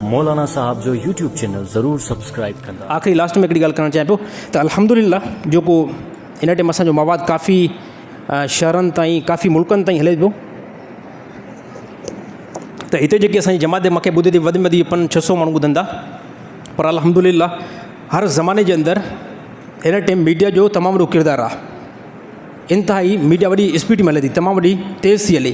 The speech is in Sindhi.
مولانا صاحب جو يوٽيوب چينل ضرور سبسڪرائب ڪندا. آخري لاسٽ ۾ هڪڙي ڳالهه ڪرڻ چاهيان پيو ته الحمدلله جيڪو هن ٽيم اسان جو مواد ڪافي شهرن تائين ڪافي ملڪن تائين هلي پيو ته هتي جيڪي اسان جي جماعت مکي ٻڌي تي وڌ ۾ وڌ پنج ڇهه سو ماڻهو ٻڌن ٿا پر الحمدلله هر زماني جي اندر هن ٽيم ميڊيا جو تمام وڏو ڪردار آهي انتهائي ميڊيا وڏي اسپيڊ ۾ هلي ٿي تمام وڏي تيز ٿي هلي